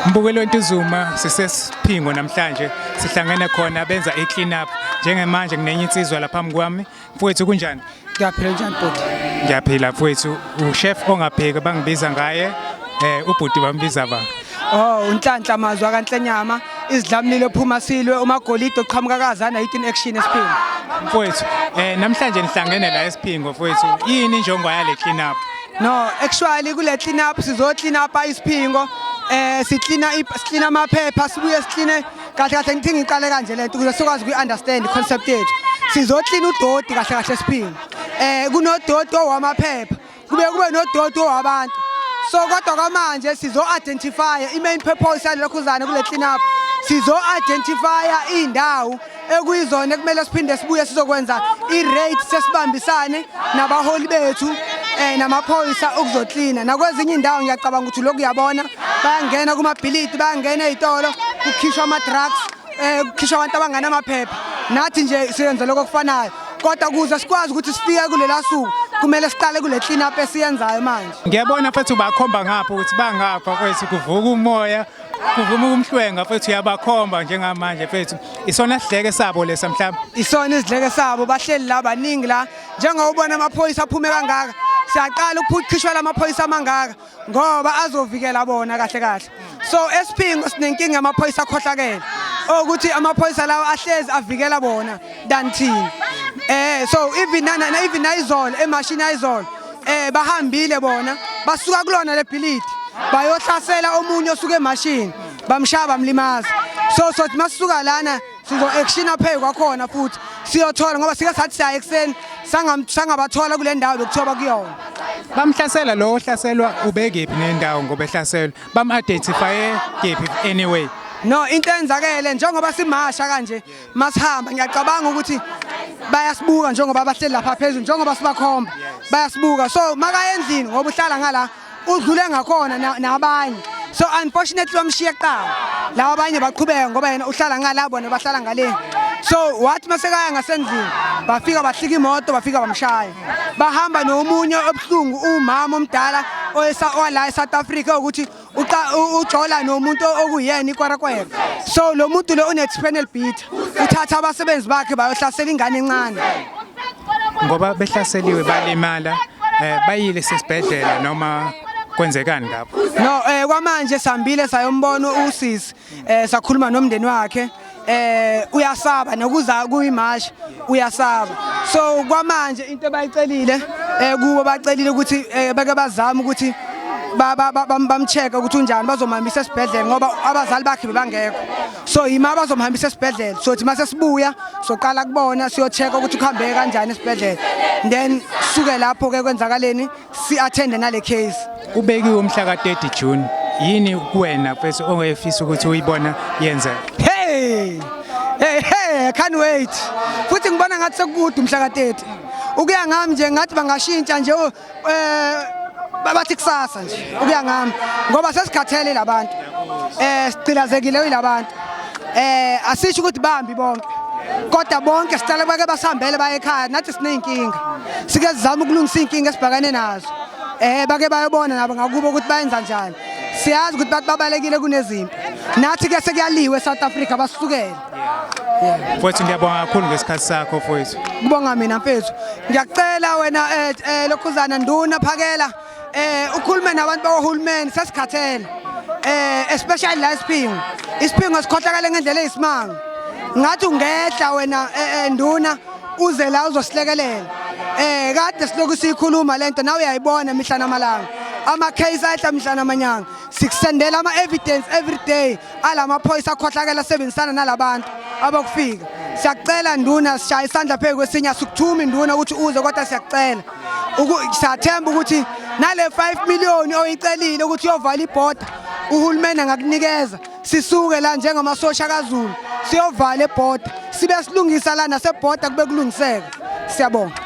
Mbukelo Ntuzuma sisesiphingo namhlanje sihlangene khona benza i clean up njengemanje nginenye insizwa la phambi kwami mfowethu kunjani ngiyaphila njani bhuti ngiyaphila mfowethu uchef ongapheki bangibiza ngaye eh ubhuti bambiza ba Oh unhlanhla mazwi akanhlenyama izidlamlilo ephuma silwe umagolide oqhamuka kazana yithi action esiphingo mfowethu eh namhlanje nihlangene la esiphingo mfowethu yini injongo yale clean up no actually kule clean up sizo clean up isiphingo eh siclean siclean amaphepha sibuye siclean kahle kahle ngithi ngiqale kanje lento ukuze sikwazi ku understand concept yethu sizo clean udoti kahle kahle esiphingo eh kunodoti owamaphepha kube kube nodoti wabantu so kodwa kwamanje sizo-identifya i-main purpose yalelokhuzane kule clean up sizo-identifya iy'ndawo ekuyizona ekumele siphinde sibuye sizokwenza i-rate sesibambisane nabaholi bethu um namaphoyisa ukuzoklina nakwezinye iy'ndawo ngiyacabanga ukuthi lokhu uyabona bayangena kumabhilidi bayangena ey'tolo kukhishwa ama-drugs eh kukhishwa abantu abangana amaphepha nathi nje siyenza lokho kufanayo kodwa kuze sikwazi ukuthi sifike kulela suku kumele siqale kule clean up esiyenzayo manje ngiyabona futhi ubakhomba ngapha ukuthi bangapha kwethu kuvuka umoya kuvuma ukumhlwenga futhi uyabakhomba njengamanje futhi isona sidleke sabo lesa mhlawumbe isona isidleke sabo bahleli la baningi la njengoba ubona amaphoyisa aphume kangaka siyaqala ukuphucishwa lamaphoyisa amangaka ngoba azovikela bona kahle kahle so esiphingo sinenkinga amaphoyisa akhohlakele okuthi amaphoyisa lawo ahlezi avikela bona than thina eh so even nana even ayizolo emashini ayizolo eh bahambile bona basuka kulona lebhilidi bayohlasela omunye osuke emashini bamshaya bamlimaza so sothi masuka lana sizo-actiona phezu kwakhona futhi siyothola ngoba sike sathi siya ekuseni sangabathola kule ndawo bekuthiwa bakuyona bamhlasela lowo ohlaselwa ubekephi nendawo ngoba ehlaselwa bam-identifye kephi anyway no into enzakele njengoba simasha kanje masihamba ngiyacabanga ukuthi bayasibuka njengoba bahleli lapha phezulu njengoba sibakhomba bayasibuka so makaye endlini ngoba uhlala ngala udlule ngakhona nabanye so unfortunately wamshiya kuqala lawa abanye baqhubeka ngoba yena uhlala ngala bona bahlala ngaleni so wathi masekaya ngasendlini bafika bahlika imoto bafika bamshaya bahamba nomunye obuhlungu umama omdala owala e-south africa ukuthi ujola nomuntu okuyena ikwarakwera so lo muntu lo une-spinal beat uthatha abasebenzi bakhe bayohlasela ingane encane ngoba behlaseliwe balimala eh, bayile sesibhedlela noma kwenzekani lapho no eh kwamanje sambile sayombona usisi eh sakhuluma nomndeni wakhe eh uyasaba nokuza kuyimash uyasaba so kwamanje into bayicelile eh kubo bacelile ukuthi eh, beke bazama ukuthi bamcheke ukuthi unjani bazomamisa esibhedlela ngoba abazali bakhe bebangekho so yima bazomhambisa esibhedlela sothi uma sesibuya soqala kubona siyocheka ukuthi kuhambeke kanjani esibhedlela then suke lapho-ke kwenzakaleni si-athende nale case kubekiwe umhla ka-30 june yini kuwena mfethu ongefisa ukuthi uyibona yenza hey hey hey can't wait futhi ngibona ngathi sekukude umhla ka-30 ukuya ngami nje ngathi bangashintsha nje eh babathi kusasa nje ukuya ngami ngoba sesikhathele labantu eh sicilazekile uyilabantu eh asisho ukuthi bambi bonke kodwa bonke sicela bake basihambele baye ekhaya nathi sineyinkinga sike sizama ukulungisa inkinga esibhakane nazo eh bake bayobona nabo ngakubo ukuthi bayenza njani siyazi ukuthi babalekile kunezimpi nathi ke sekuyaliwe eSouth Africa basukele mfowethu ngiyabonga kakhulu ngesikhathi sakho mfowethu kubonga mina mfethu ngiyacela wena eh, eh, lokhuzana nduna phakela eh ukhulume nabantu bawohulumeni sesikhathele eh especially la isiphingo isiphingo sikhohlakale ngendlela eyisimanga ngathi ungehla wena eh, eh, nduna uze la uzosilekelela eh kade siloku siyikhuluma lento nawe uyayibona mihla namalanga ama case ayihla mihla namanyanga sikusendela ama evidence every day alamaphoyisa akhohlakela asebenzisana nalabantu abokufika siyakucela nduna sishaya isandla phezu kwesinye asikuthumi nduna ukuthi uze kodwa siyakucela siyathemba ukuthi nale 5 million oyicelile ukuthi uyovala ibhoda uhulumeni angakunikeza sisuke la njengamasosha kaZulu siyovala ebhoda sibe silungisa la nasebhoda kube kulungiseka siyabonga